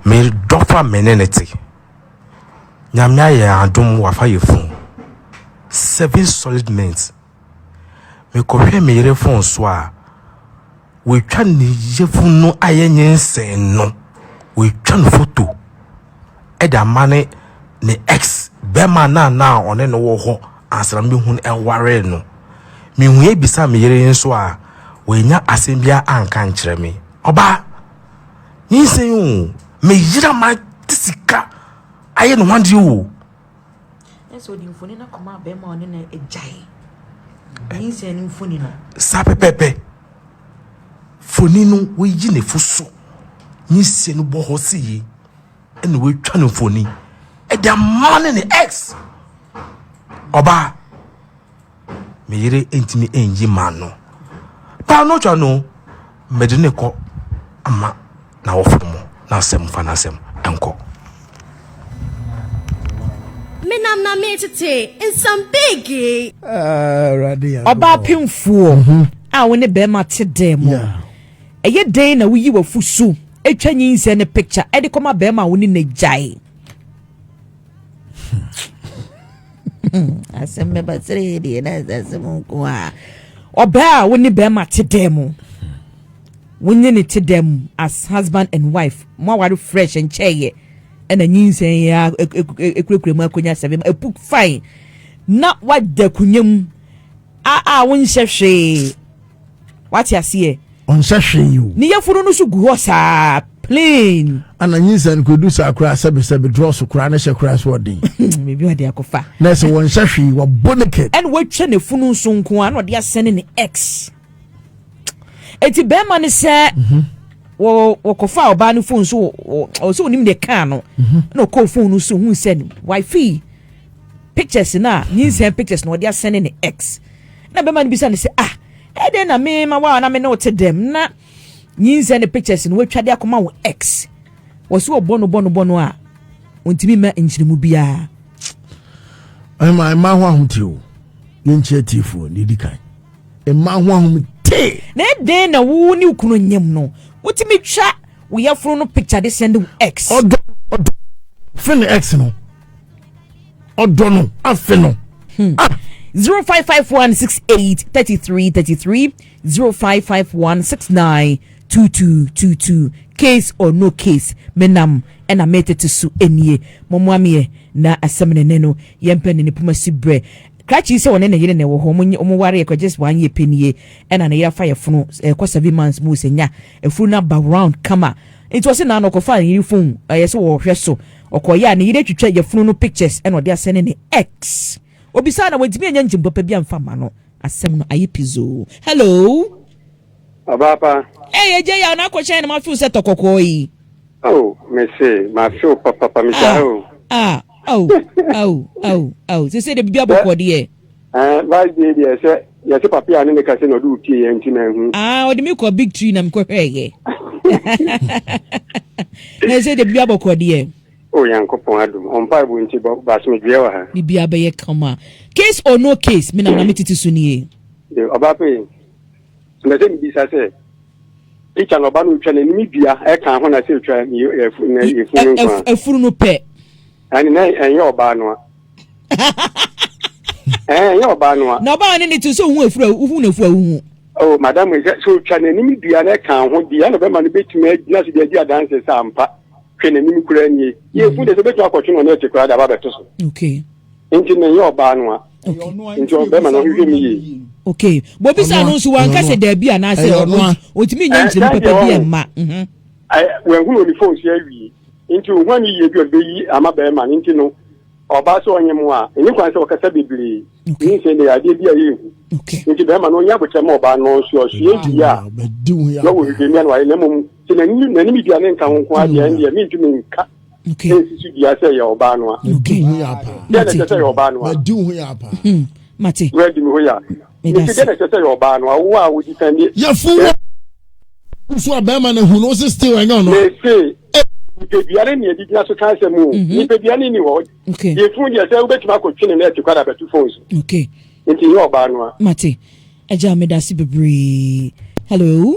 Me dɔfa me ne no te. Nyame ayɛ adom wafa yɛ fun. Seven solid months. Me kɔ hwɛ me yere fon so a, watwa ne yefun no ayɛ nyensen no. Watwa no foto ɛde ama ne ne ex bɛma na na ɔne no wɔ hɔ ansa na me hun ɛware no. Me hu yɛ bisa me yere nso a, wanya asɛm biara anka nkyerɛ me. Ɔbaa! Nyinsɛn o, me yere ama de sika ayɛ ne ho adeɛ o. Ɛsɛ ɔde mfoni no kɔma bɛrima ɔne na agyae. Nyinsɛn no mfoni no. Saa pɛpɛpɛ. Foni no woyi ne fo so. Nyinsɛn no bɔ hɔ si yi. Ɛna wɔatwa no mfoni. Ɛde ama ne ne ex. Ɔbaa. me yere ntumi nyi ma no paa no twa no mede ne kɔ ama na wɔfo mo na asɛm fa n'asɛm nkɔ menam na metete nsam beegee ah, ɔbaa pemfuo mhm. a wo ne bɛrima te dɛn mu ɛyɛ dɛn na woyi wafusu atwa nyinsɛ ne picture ɛde kɔma bɛrima a wo ne n'agyae asɛm bɛba seree deɛ na asase mu nko a ɔbaa a wo ne bɛrima te dɛn mu wonye ne te dɛn mu as husband and wife mo aware fresh nkyɛɛyɛ ɛna nyinsɛn yɛ ekurakura mu akonya sɛbɛn epu fine na wada kunya mu a a wonhyɛ hwee wate aseɛ ɔnsɛ hwee o ne yafunu no so gu hɔ saa plain ana nyinsa no kɔdu saa koraa sɛbesɛbe drɔso koraa ne hyɛ koraa so ɔden biribi ɔde akɔfa na ɛsɛ wɔnsɛ hwee wɔbɔ naked ɛne wɔatwa ne funu nso nko a na ɔde asɛne ne x enti bɛrima no sɛ mhm. wɔkɔfa ɔbaa no fon so ɔsɛ ɔnim deɛ kaa no mhm. na ɔkɔɔ fon no so hu sɛ wifi pictures no a nyinsɛn pictures na ɔde asɛne ne x Ɛnna bɛrima no bisa no sɛ, Ah, ɛdɛn na mema wo a na me ne wo te dɛm na nyinsɛn ne pictures no watwa de akɔma wo ex? Wɔ so ɔbɔ no bɔ no bɔ no a ɔntumi mma nkyerɛmu biara. Ɛma mmaa ho ahomte o. Yɛnkyɛ tiefoɔ na ɛdi kan. Mmaa ho ahomte. Na ɛdɛn na wo ne kunu nyam no wotumi twa wo yɛforo no picture de send wo ex? Ɔdɔ ɔdɔ fene ex no. ɔdɔ no afe no. Hmm. Ah. 0551 68 33 33 0551 69 2222 case or no case menam ɛna metete so nie mɔmoa meɛ na asɛm ne ne no yɛmpɛ ne ne poma si berɛ krakye sɛ ɔne ne yere na ɛwɔ hɔ ɔmo ware ɛkɔ just one year pɛ nie ɛna ne yere afa yɛ fono ɛkɔ seven months mu sɛ nya afuru no aba round kama nti ɔsɛ naa na ɔkɔfa ne yere fon ɛyɛ sɛ wɔhwɛ so Ɔkɔeɛ a ne yere retwitwa yafunu no pictures na ɔde asɛne ne ex. Obisaa na wantumi anya ngyem papa bi amfa amma no. Asɛm no ayɛ pizoo. Hello. Ɔbaa pa. Ei agya yi a na akɔ hyɛn na ma feel sɛ tɔ kɔkɔɔ yi. Oh me se ma feel papapa me gyae o. Ah ah oh oh oh oh sese de bibi abɔ kɔ deɛ. Eh, last day deɛ sɛ yɛse papi a ne ne kase na ɔde opie yɛ nti na ɛhu. Ah, ɔde me kɔ big tree na mekɔ hwɛɛyɛ. Na ɛsɛ de bibia bɔkɔ deɛ. O Nyankopɔn adom, ɔmpa ɛbo nti basomedweɛ wɔ ha. Bibia bɛyɛ kama. Case or no case, me na na me tete so nie. De ɔba pe, na sɛ mebisa sɛ, picture na ɔba no otwa n'anim dua ɛka ho na sɛ otwa yɛfunu no nko a. Afunu no pɛ. ɛne na ɛnyɛ ɔbaa noa ɛnyɛ ɔbaa noa na ɔbaa ne ne te sɛ wohu afura wohu na afura wohu oh madam sɛ sɛ ɔtwa n'anim dua na ɛka ho deɛ na bɛma no bɛtumi agyina so de adi adanse sɛ ampa hwɛ n'anim koraa nie yɛfu de sɛ bɛtumi akɔtwe no ne ɛte koraa de aba bɛto so okay nti na ɛnyɛ ɔbaa noa nti ɔbɛma no ɔhwehwɛ mu yie okay bobi sa no nso wanka sɛ daabi anaasɛ ɔtumi nya nkyerɛmu pɛpɛ bi ɛmma wɛhunu ɔne fon so awie Enti ohuan yiye bi a ɔde beyi ama barima no nti no, ɔbaa sɛ ɔnyem a, enni kwan sɛ ɔkasa bebree. Nyinsɛn de yɛ adeɛ bi a ɛyɛ hu. Enti barima no ɔnyɛ abotare mma ɔbaa no, ɔnsoa ɔsoɛe yiye a na ɔwɔ hwehwɛmia na wayɛ, na mmom sɛ n'anim n'anim dua no nka ho nko ara deɛ, ɛnneɛ merentumi nka nsi so dua sɛ ɛyɛ ɔbaa no a. Deɛn na ɛkyerɛ sɛ ɛyɛ ɔbaa no a? Wura di me hɔ yi a, Nti dɛn na ɛsɛ sɛ yɛ ɔbaa no awo a wodi kan ne. Yɛfo wɔ nso a bɛrima na hu no ɔsɛ still ɛnyɛ ɔno. Mese eh. nipadua ne nea ɛgyina so ka asɛm o mhm. nipadua ne ni hɔ yɛfunu deɛ sɛ wobɛtumi akɔtwe ne na ɛte kwada bɛto fon so nti yɛ ɔbaa no a. Mate agya medase bebree hello.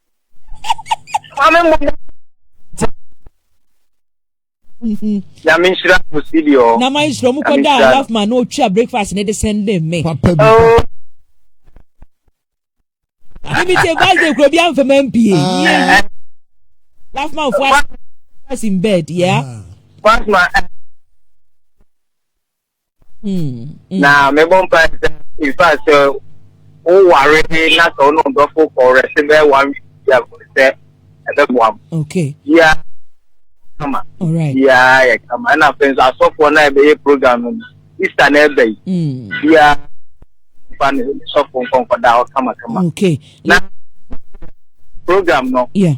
nyame nhyira mo sidi ɔ na ma nhyira mu kɔda a love man na ɔtwa breakfast ne de sɛnde me papa bi ebi te birthday kuro bi anfa ma mpie love man fo as in bed yeah love man na mebɔ mpa sɛ nfa sɛ woware na sɛ wo ne ɔdɔfo kɔwerɛ se bɛyɛ one week bia sɛ ɛbɛboa m bia kama bia yɛ kama ɛna afei nso asɔfoɔ no a ɛbɛyɛ program no easter na ɛbɛ yi bia fa ne sɔfo nkɔnkɔda hɔ kamakama na program no ɛɛ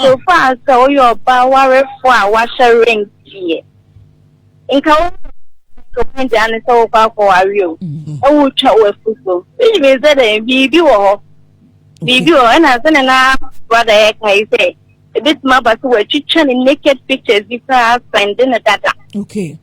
So faa sɛ woyɛ ɔbaa warefo a wahyɛ ring deɛ, nka wo ntoho de ane sɛ wokɔ akɔware o, mm-hmm. na wotwa w'afutuo. Which means sɛ dɛn biribi wɔ hɔ. Biribi wɔ hɔ ɛna sɛ ne na brada yɛ kae sɛ ebetumi aba sɛ wɔatwitwa ne naked pictures bi koraa sɛnde ne dada. Okay.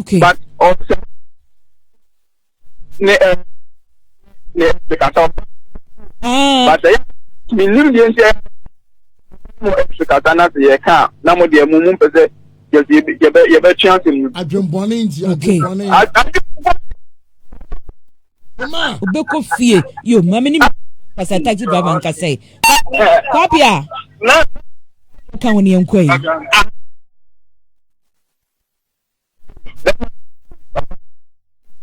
Okay. But ọsẹ ne ẹ ne ẹ kasa ọba. But ẹ mi nim deɛ nti ẹ mo ẹ fi kasa na se yẹ kan na mo deɛ mo mu mpẹ sẹ yẹ se yẹ bẹ yẹ bẹ tún ase mu. Adwembɔne nti adwembɔne. Obekɔ fie yo maame ni mi kasa taxi driver nkasa yi. Kwabia. Kan wɔn yɛn kɔ yi.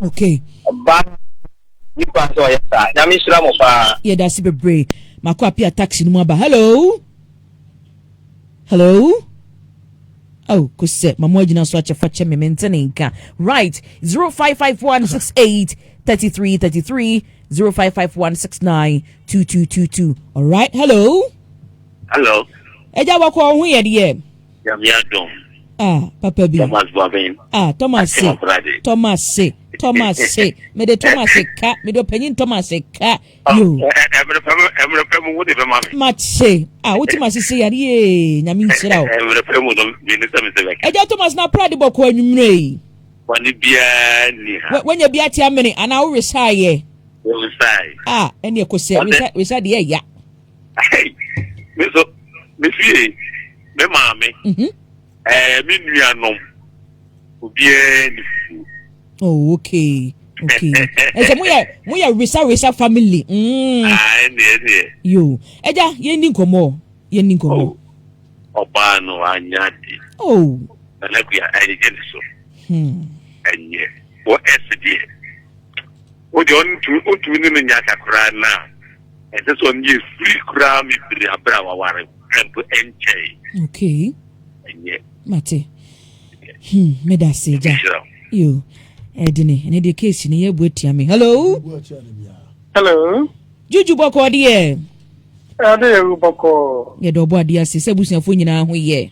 okay ɔbaa no ni kwan sɛ ɔyɛ saa nyame nhyira mo paa yɛda ase bebree mako apia taxi no mu aba hello hello Oh, kose mamo agyina so akyɛ fa kyɛ me mente ne nka right 055168 3333 055169 2222 all right hello hello agya wakɔ wo ho yɛ deɛ Nyame adom. Ah, papa bi. Thomas Boabeng. Ah, Thomas se. Thomas se. Thomas se. Me de Thomas se ka. Me do panyin Thomas se ka. Ah, Yo. Emre pem, emre pem wo de be ma me. Match se. Ah, wo ti ma sisi yare ye. Nyame nsira o. Emre pem no me ne se me se be. Eja Thomas na prade bɔkɔ anwumre yi. Wani bia ni ha. Wanya bia ti amene ana wo resaye. Wo resaye. Ah, ene ekose. Resa resa de ya. me so me fie me maame mhm. eh, me nuanom obiara ni oh okay okay ɛsɛ mo yɛ mo yɛ wisa wisa family mm. ah ɛnneɛ ɛnneɛ yo ɛgya yɛn ni nkɔmɔ yɛn ni nkɔmɔ oh, ɔbaa no anya de oh nana kuya ɛnyɛ ne so hmm. ɛnyɛ wɔ ɛsi deɛ. Wo deɛ ɔntumi ɔntumi ne no nyɛ aka koraa na ɛsɛ sɛ ɔno yɛ free koraa me bere abere a waware ɛ mpo ɛnkyɛe okay ɛnyɛ mate hmm medase gya ɛhyira yo ɛdene ɛne deɛ case ne yɛ bu atia me hello hello juju bɔkɔɔ deɛ ɛde yɛ bɔkɔɔ yɛde ɔbɔ adeɛ ase sɛ abusuafoɔ nyinaa ho yɛ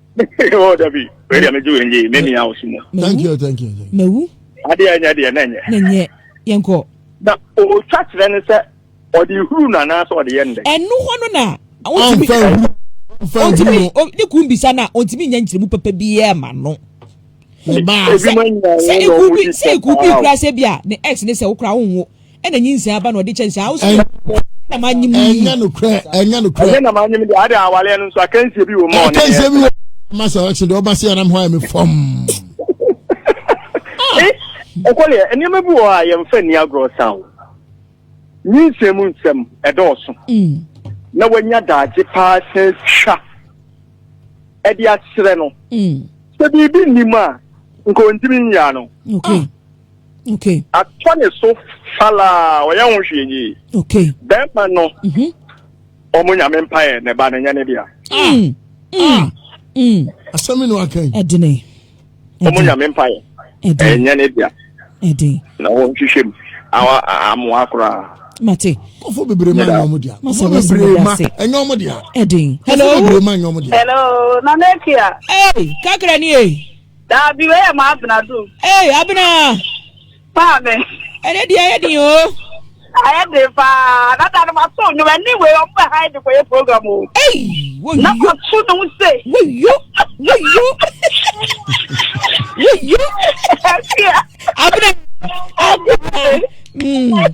oh, Debbie, where am I doing? Ye, many hours. Thank you, thank you. Mewu. Ade a nyɛ deɛ na nyɛ. Na nyɛ yɛn kɔ. Na otwa kyerɛ ne sɛ ɔde huru na anaasɛ ɔde yɛ ndɛ. Ɛnu hɔ no na. Ɔntumi huru. Ɔntumi ne kun bisa na ɔntumi nya nkyerɛmu papa biara ma no. Sɛ eku bi sɛ eku bi kura sɛ bi a ne ex ne sɛ okura wo nwo ɛna nyinsɛn aba na ɔde kyɛ saa ɔsɛ na ma nyim yi ɛnyɛ no korɛ ɛnyɛ no korɛ ɛnyɛ na ma nyim de ade awale no nso akansie bi wɔ mu akansie bi wɔ mu ma sɛ ɔkye de ɔba se anam hɔ ayɛ me fam ɔkɔleɛ eh, nneɛma bi wɔ a yɛmfa nni agorɔ sa o nyinsɛn mu nsɛm ɛdɔɔso mm. na wanya daagye paa sɛ twa ɛde aserɛ no mm. sɛ biribi nnim a nka ɔntimi nyaa no okay atɔ ne so falaa ɔyɛ ho hwee yie okay bɛrima no mhm. ɔmo nyame mpaeɛ ne ba no nyɛ ne dea mm, mm, mm. asɛm no aka yi ɛdene ɔmo nyame mpaeɛ ɛnyɛ ne dea ɛden na wɔnhwehwɛ mu amoa koraa mate kɔfo bebree ma nyɔmu dia kɔfo bebree ma nyɔmu dia ɛdin hello kɔfo bebree ma nyɔmu dia hello nana ekia ee kakra ni ee. Daabi, wei yɛ ma Abena do. Ee, Abena! Maame. Ɛnɛ deɛ ayɛ den o. Ayɛ den paa. Dada no ma so nnwom. Ɛne wei ɔmo bɛ ha yi de kɔyɛ program o. Ei, woyo. Na ɔto ne ho se. Woyo, woyo. Woyo. Abena. Abena. Mm.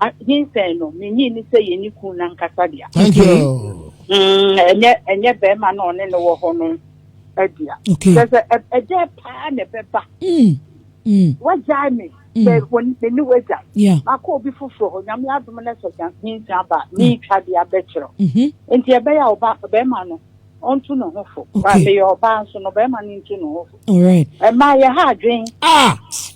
Ah, nyinsɛn no, menyi ne sɛ yɛne kun no ankasa dea. Thank you. Mm-hmm. Mm, ɛnyɛ ɛnyɛ bɛrima na ɔne no wɔ hɔ no adua. Okay. Kyerɛ sɛ ɛ- ɛdɛ paa na ɛbɛba. Mm. Mm. Wagyae me. Mm. Sɛ wɔn- me ne wagyae. Yeah. Makɔ obi foforɔ hɔ. Nyame adom no sɛ gya- nyinsɛn aba a, meretwa de abɛkyerɛ wo. Mhm. Nti ɛbɛyɛ a ɔba bɛrima no ɔnto ne ho fo. Okay. Meyɛ ɔbaa nso no bɛrima no nto ne ho fo. All right. Ɛmaa yɛ ha adwen. Ah!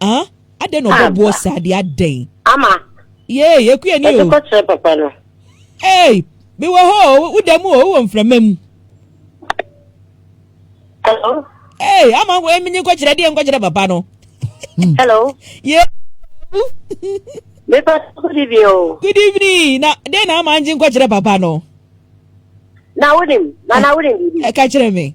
Ah, adɛn na ɔbɔ ah, boɔ saa deɛ adɛn? Ama. Yee, yɛkue ni o. Ɛde kɔkyerɛ papa no. Ei, mewɔ hɔ o, woda mu o, wowɔ mframa mu. Hello? Ei, ama menye nkɔkyerɛ deɛ nkɔkyerɛ papa no. Hmm. Hello? Yee. Mepa, good evening o. Good evening, na deɛ na ama ngye nkɔkyerɛ papa no. Na wonim, na na wonim biribi. Ɛka kyerɛ me.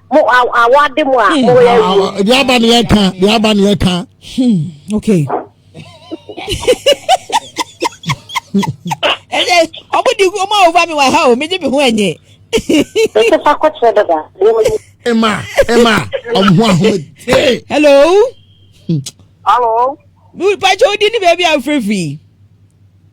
mo awade mo a hmm. mo yɛ wie. Ah, deɛ aba ne yɛ ka deɛ aba ne yɛ ka. Hmm, okay. ɛnɛ ɔmo di ɔmo a ɔba mi wɔ ha o mi di mi ho ɛnyɛ. ɛsɛ fa kɔkyerɛ dada. ɛma ɛma ɔmo ho ahoma dee. hello. hello. pàṣẹ odi ni bẹẹbi afurafuri.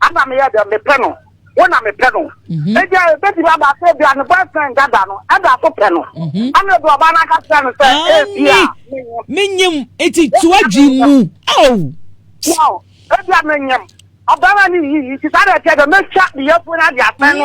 Ana meyɛ dɛ mepɛ no wo na mepɛ no mhm. ebia ebetumi aba sɛ ebia ne boyfriend dada no ɛda so pɛ no mhm. ana ebi ɔbaa no aka kyerɛ no sɛ ebia menyim eti tu adwi mu aw ebia menyim ɔbɛrɛ ne yiyi ti saa deɛ ɛkyɛ dɛ mɛtwa ne yɛfu no ade asɛn no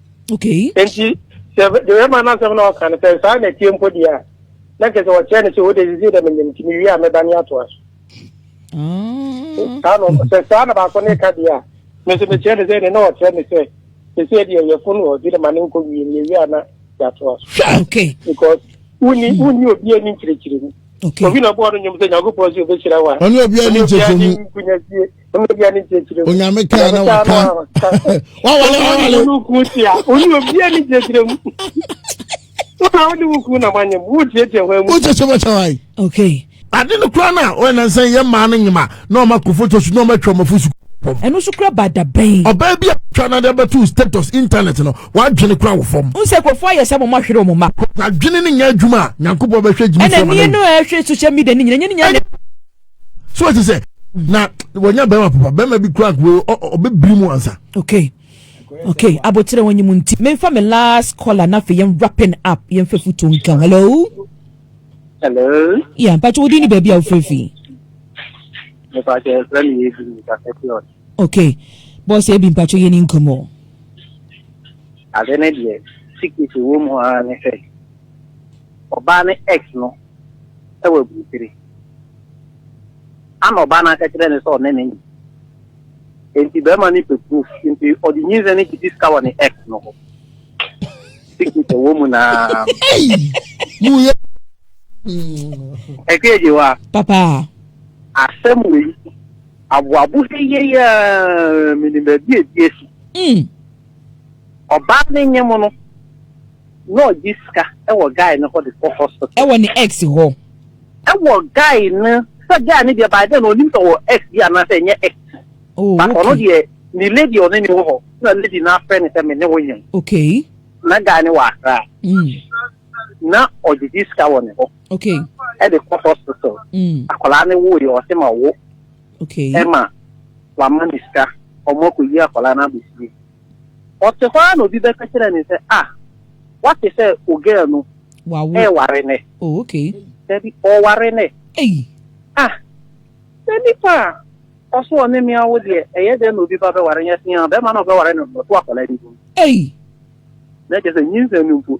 okay enti sɛ bɛrima no asɛm na ɔka no sɛ saa na ɛteɛ mpo deɛ a na kyɛ sɛ wɔkyerɛ no sɛ wode sisi dɛ menyim nti mewie a mɛba ne atoa so ah. saa no sɛ saa na baako ne ka deɛ a me nso mekyerɛ no sɛ ne na ɔkyerɛ me sɛ sɛsɛ deɛ yɛfo no ɔde ne ma no nkɔ wie mewie a na yɛatoa so hwɛ okay because wonni wonni obi ani nkyerɛkyerɛ mu okay obi na ɔbɔɔ no nnwom sɛ nyankopɔn sɛ ɔbɛhyira wo a ɔne obi ani nkyerɛkyerɛ mu nkunyasie onyame kaa na waka wawale wawale wokyekye bɛkyɛ wae okay ade no kora no a ɔyɛ nansa yɛ maa no nyema na ɔma kɔ foto so na ɔma atwa ɔmafo su fam. ɛno nso kura bada bɛn. ɔbaa bi a twa na de abɛto status internet no wadwene kura wɔ fam. n sɛ kurɔfoɔ ayɛ sɛ mɔmɔ ahwere wɔn mma. adwene ne nyɛ adwuma a nyankopɔn bɛhwɛ gyimi sɛ ma no. ɛna nie no ɛhwɛ social media ne nyina nyɛ ne nyɛ. so ɛte sɛ na wɔnya bɛrima papa bɛrima bi kura kuro ɔbɛbiri mu ansa. okay okay abotire wɔn nyim nti menfa me last caller na afei yɛn wrapping up yɛn fɛ futu nkan hello. hello. yà mpatsi wodi ni baabi a wofiri fi. mpatsi ɛfɛ mi yɛ ebi mi ka fɛ fi ɔdi. okay bɔs ebi mpatsi yɛ ni nkɔmɔ. ade ne deɛ sikiti wɔ mu ara ne sɛ ɔbaa ne x no. sɛ waburukyire. Ɛnna ɔbaa no aka kyerɛɛ no sɛ ɔne no nyi. Enti barima no pɛ proof, enti ɔde nyinsɛn no gyedi sika wɔ ne ex no hɔ. Secret ɛwɔ mu naa. Ɛkɛ agye hɔ a. Papa. Asɛm wei, aboabo he yɛyɛ menim baabi a ɛdi asi. Ɔbaa no nye mo no. na ɔgye sika wɔ guy no hɔ de kɔ hospital. Ɛwɔ ne ex hɔ. Ɛwɔ guy no sɛ guy no deɛ by then no onim sɛ ɔwɔ ex bi anaasɛ ɛnyɛ ex. Oh, But ɔno okay. deɛ ne lady ɔne ne wɔ hɔ na lady no afrɛ ne sɛ me ne wo nyem. Okay. Na guy no wɔ akra. Mm. Na ɔgyegye sika wɔ ne hɔ. Okay. Ɛde kɔ hospital. Mm. Akwadaa no wo yɛ ɔsɛ ma wo. Okay. Ɛma wama ne sika ɔmo akɔyi akwadaa no abɛsie. Ɔte hɔ ara na obi bɛka kyerɛ no sɛ, Ah, woate sɛ ogɛɛ no reware nnɛ? Oh, okay. Dabi, ɔreware nnɛ. Ei! Ah, sɛ nipa a ɔso ɔne me awo deɛ, ɛyɛ dɛn na obi ba bɛware? Nyɛ see ara, barima no a ɔbɛware no no, ɔto akwadaa bi din. Ei! Na kyerɛ sɛ, nyinsɛn no mpo.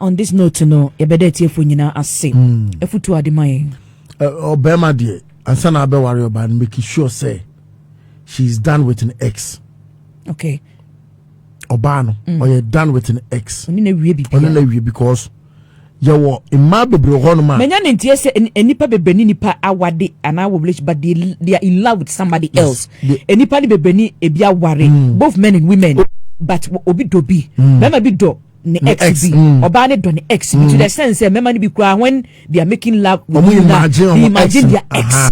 On this note no, yɛbɛda atiefo nyinaa ase. Afutuo ade ma yɛn. Ɔbɛrima deɛ, ansa na abɛware ɔbaa no, make sure sɛ she is done with an ex. Okay. Ɔbaa no, ɔyɛ done with an ex. Ɔne na wie bi. Ɔne na wie because yɛwɔ mmaa bebree hɔ nom a. manya ne nteɛ sɛ nnipa bebree ne nnipa awade anaa wɔ relationship but they, they are in love with somebody yes. else nnipa ne bebree ne ebi aware mm. both men and women oh. but obi dɔ bi mm. bɛrima bi dɔ ne ex bi ɔbaa ne dɔ ne ex bi to the extent sɛ mmarima no bi koraa when they are making love with you na they imagine their ex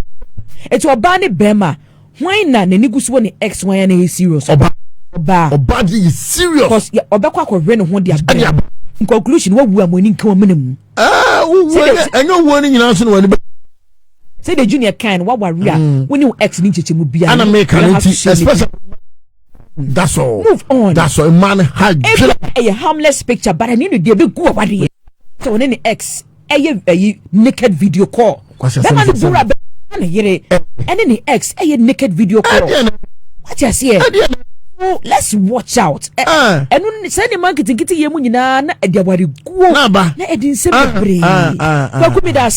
eti ɔbaa ne bɛrima hwan na n'ani gu so wɔ ne ex hwan na ɛyɛ serious ɔbaa ɔbaa ɔbaa de yɛ serious cause ɔbɛkɔ akɔhwɛ ne ho de abɛn in conclusion wawu a mo ani nka wɔn mene mu. ɛɛ wuwu ɛnyɛ ɛnyɛ owuo ni nyinaa so na wɔn ani bɛ. sɛ de junior kan no wawari a wone wo ex ni nkyekyɛ mu biara. ɛna mi kan ne ti especially. that's all move on that's all man ha dwere ɛyɛ harmless picture but ɛne no deɛ bɛgu awadeɛ sɛ ɔne ne ex ɛyɛ ɛyi naked video call bɛma no bura bɛma ne yere ɛne ne ex ɛyɛ naked video call wate aseɛ so let's watch out ɛno sɛ ne ma nketenkete yɛ mu nyinaa na ɛde awareguo na ɛde nsɛm bebree kwaku me da ase